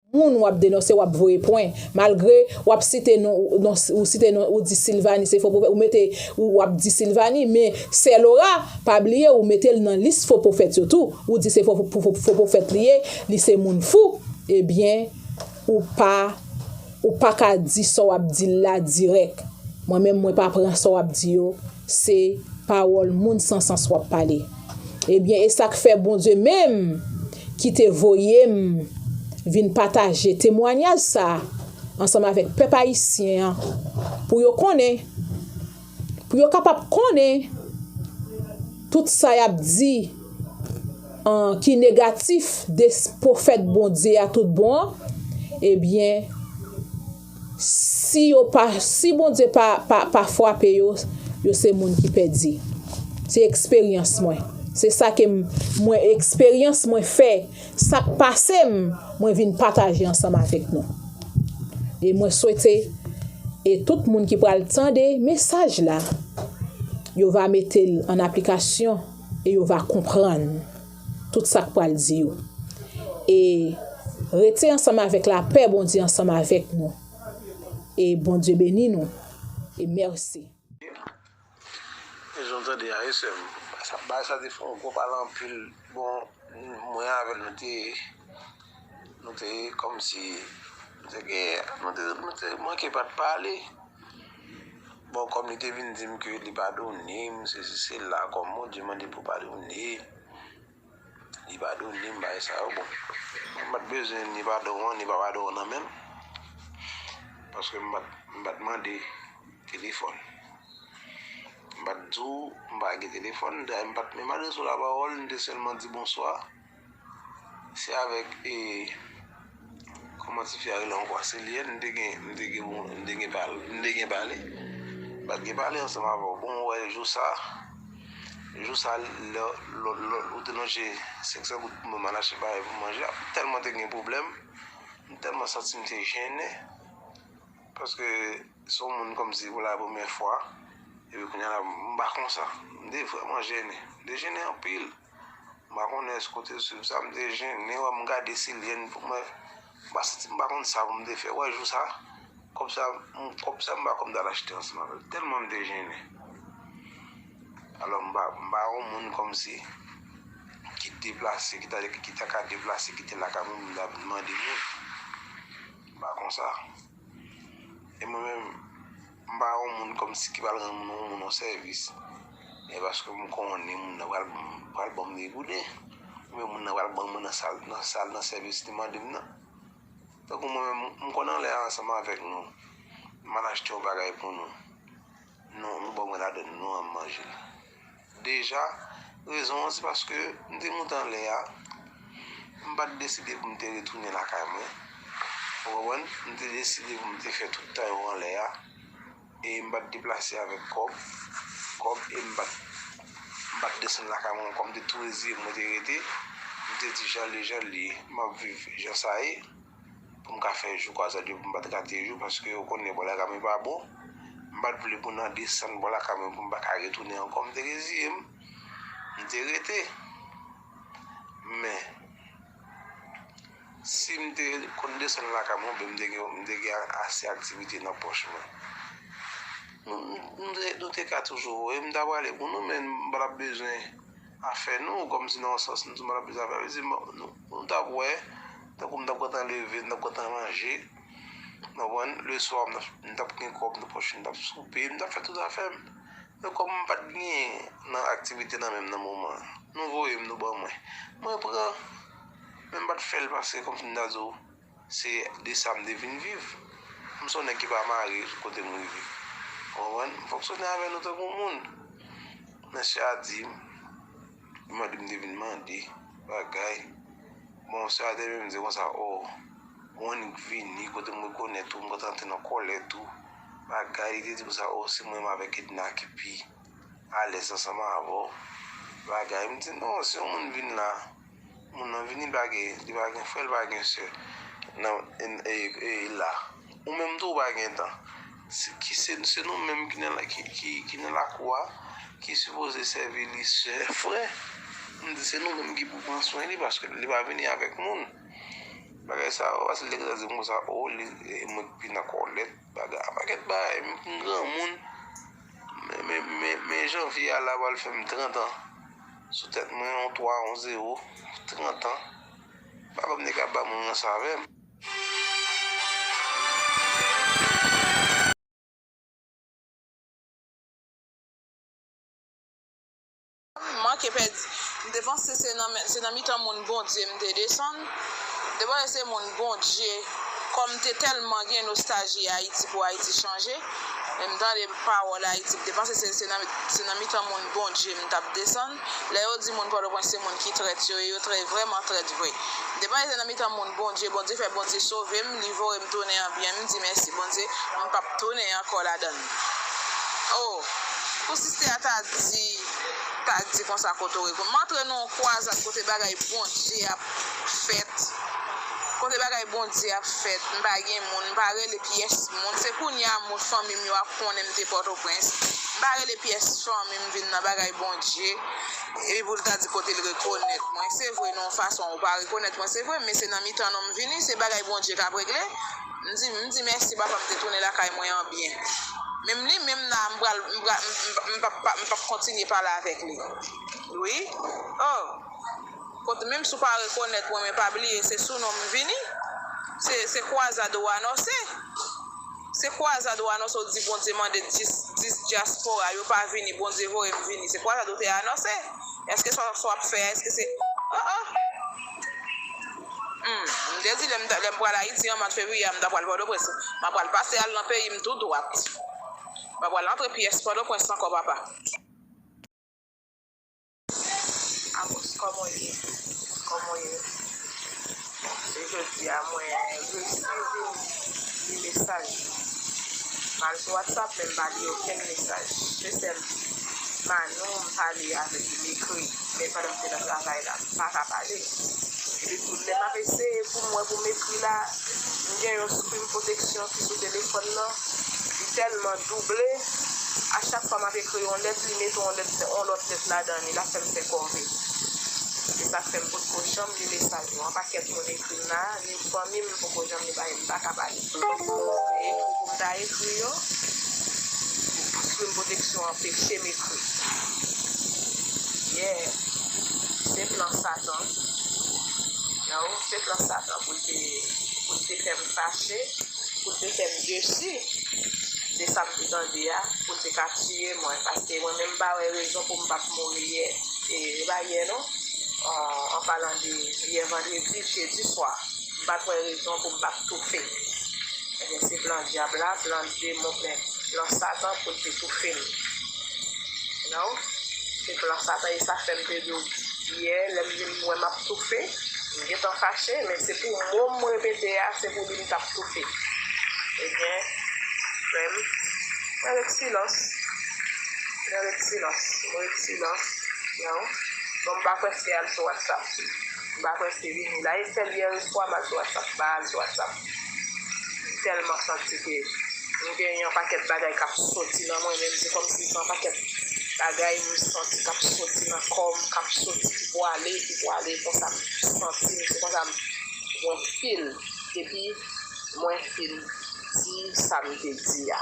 Moun wap denonse wap voye pwen malgre wap site non ou site non ou di Sylvanie se fo pwofèt ou mete ou wap di Sylvanie men sè Laura pa bliye ou metel nan lis fo pwofèt yo tou ou di se fo pwofèt li ye li se moun fou ebyen ou pa ou paka di sa wap dil la dirèk mwen menm mwen pa pran sa wap di yo Se pawòl moun san sans wap pale. Ebyen esak fè Bondye menm ki te voyem vin pataje temwanyaj sa ansanm avèk pèp ayisyen an pou yo konnen pou yo kapab konnen tout sa yap di an ki negatif de pwofèt Bondye a tout bon an ebyen Si yo pa si Bondye pa pa fwape yo yo se moun ki pèdi se eksperyans mwen se sa ke m mwen eksperyans mwen fè sak pase m mwen vin pataje ansanm avèk nou e mwen swete e tout moun ki pral tande mesaj la yo va mete l an aplikasyon e yo va konprann. tout sa k pral di yo. E rete ansanm avèk lapè Bondye ansanm avèk nou. E Bondye beni nou. E mèsi. Bon kòm li te vin di m ke li pa done m sesi sela kòm Bondye mande pou pa done li pa done m bagay sa yo bon m pa t bezwen ni padon an ni pa padon an nan menm paske m pa t mande telefòn m pa t di w m pa gen telefòn dayè m pa t menm adrese w lapawòl m te sèlman di bonswa. Se avèk e Kòman ti fi a rele ankò a se li m te gen m te gen pou m te gen pale m te gen pale m pat gen pale ansanm avè w bon ou wè jou sa jou sa lè lò lò ou te lonje senksan goud pou mwen m al achte bagay pou manje a tèlman te gen pwoblèm m tèlman santi m te jennen paske se w moun kòmsi pou la premyè fwa epi kounye a la m pa konsa m te vrèman jennen m te jennen anpil M pa konnen èske w te swiv sa. M te jennen wè, m gade si lyen n pou mwen. M pa santi, m pa konn sa pou m te fè. Wè jou sa, kòb sa, kòb sa m pa kwè m ta al achte ansanm avè l. Tèlman m te jennen. Alò m pa, m pa yon moun kòmsi ki deplase, ki ta de, ki ta ka deplase kite lakay moun pou m ta vin mande moun. M pa konsa. E mwen menm, M pa yon moun kòmsi ki pral rann moun yon moun yon sèvis. Men paske m konnen moun nan pral ban m degoude. Oubyen moun nan pral ban mwen nan sal nan sèvis li mande m nan. Tankou mwen menm, m konn ale ansanm avèk nou. M al achte yon bagay pou nou. Nou ban mwen ladann, nou an manje. Deja, rezon an se paske m te moute anlè a, m pa t deside pou m te retounen lakay mwen. Ou konprann? M te deside pou m te fè tout tan yo anlè a e m pa t deplase avèk kòb, kòb e m pa t, m pa t desann lakay mwen ankò. M te tou reziye m, mwen te rete. M te di jan l ye, jan l ye. M ap viv jan sa ye. pou m ka fè jou kwazad yo pou m pa t rate jou paske ou konnen bò lakay mwen pa bon m pa t vle pou nan desann bò lakay mwen pou m pa ka retounen ankò m te reziye m m te rete men si m te konn desann lakay mwen oubyen m te gen m te gen ase aktivite nan pòch mwen nou te ka toujou wè m ta prale pou nou men m pa t ap bezwen afè nou kòm si nan yon sans nou sou madanm plis afè plis nou t ap wè tankou m t ap gentan leve m t ap gentan ranje nou konprann leswa m t ap gen kòb nan pòch m t ap soupe m t ap fè tout afè m men kòm m pa t genyen nan aktivite nan men m nan moman an nou voye m nou ban mwen mwen pran men m pa t fè l pase kòm si m ta di w Se de sa m te vin viv. M s on nèg ki pa marye kote m rive. Ou konprann? M fonksyone avè nou tankou moun. Mesye a di m, li mande m te vin mande bagay. Bon, mesye a te menm di konsa, o, ou annik vini kote m rekonèt ou, m kontan antre nan kòlèt ou, bagay. Li te di konsa, o, se mwen menm avèk Edna ki pi. alèz ansanm avè w bagay m di non si yon moun vin la moun nan vini li pa gen frè li pa gen sè la ou menm tou ou pa gen tan se nou menm ki nan lakou a ki sipoze sèvi li sè frè m di se nou menm ki pou pran swen li paske li pa vini avèk moun bagay sa yo se lè li ta di m konsa o mwen pi nan kòlèt Bagay a paket bagay m vin granmoun men janvier a la pral fem 30 ans sou tet mwen yon 3 yon 0 30 ans papam te ka banm rans avem. M manke pèdi. M te panse se nan men se nan mitan moun Bondye m te desann. M te panse se moun Bondye kòm m te tèlman gen nostalji Ayiti pou Ayiti chanje. Lè m tande pawòl Ayiti m te panse se se nan se nan mitan moun Bondye m t ap desann. Lè yo di moun Pòtoprens se moun ki trèt yo e yo trè vrèman trèt vre. M te panse se nan mitan moun Bondye Bondye fè Bondye sove m li voye m tounen an byen m di mèsi Bondye m p ap tounen ankò ladan l. Oh pou sister a ta di ta di konsa koto reponn m antre nan yon kwazad kote bagay Bondye ap fèt kote bagay Bondye ap fèt m pa gen moun m pa rele pyès moun se kounya moun fanmi m yo ap konnen m te pòtoprens m pa rele pyès fanmi m vin nan bagay Bondye epi pou l ta di kote l rekonèt mwen se vre nan yon fason ou pa rekonèt mwen se vre men se nan mitan nou m vini se bagay Bondye k ap regle. M di m di mèsi papa m te tounen lakay mwen an byen. Menm li menm la m pral m pral m pap pa m pap kontinye pale avèk li wi oh kot menm si w pa rekonèt mwen men pa bliye se sou non m vini se se kwazad ou anonse se kwazad ou anonse w di Bondye mande dis dis dyaspora yo pa vini Bondye voye m vini se kwazad ou te anonse èske sa w ap fè a èske se oh oh. M te di lè m pral Ayiti an mwa fevriye a m ta pral Pòtoprens. M a pral pase al nan peyi m tou dwat. M pa pral antre pyès Pòtoprens ankò papa. Amos, kòman w ye? Kòman w ye? Se jodi a mwen resi vin li mesaj yo. M al sou Whatsapp men m pa li okenn mesaj. Se sèl Manou m pale avèk li, m ekri. Men pandan m te nan travay la, m pa ka pale. Epi tou, lè m ap eseye pou m wè pou m ekri la, m gen yon screen protection ki sou telefòn nan, li tèlman double, a chak fwa m ap ekri yon lèt, li mete yon lèt, yon lòt lèt ladan li, l ap fè m fè kòve. Se sa k fè m potko janm li mesaj ou an, pakèt moun ekri m la. Pou fanmi m m poko janm li paske m pa ka pale pou yo. Se ekri pou m ta ekri yo. Lespri m pwoteksyon anpeche m ekri. Yeah! Se plan satan. No, se plan satan pou l te pou l te fè m fache, pou l te fè m desi de sa m te tande a, pou l te ka tiye mwen paske mwen menm m pa wè rezon pou m pa t mouri yè. E e pa yè non. An palan de yè vandredi, jedi swa, m pa t wè rezon pou m pa t toufe. Ebyen se plan dyab la, plan demon men plan satan pou l te toufe m. You know? Se plan satan e sa fè m te di w yè lè m vin wè m ap toufe, m gentan fache men se pou mo m repete a se pou li m t ap toufe. Ebyen frè m, mwen ret silans. Mwen ret silans Mwen ret silans Yon Bon m pa kwè se al sou whatsapp M pa kwè se vini la e sèl yè l swa m al sou whatsapp m pa al sou whatsapp M tèlman santi ke m gen yon pakèt bagay k ap soti nan mwen menm se kòmsi se yon pakèt bagay m santi k ap soti nan kò m k ap soti ki pou ale ki pou ale konsa m santi m se konsa m mwen feel depi mwen fin di sa m te di a.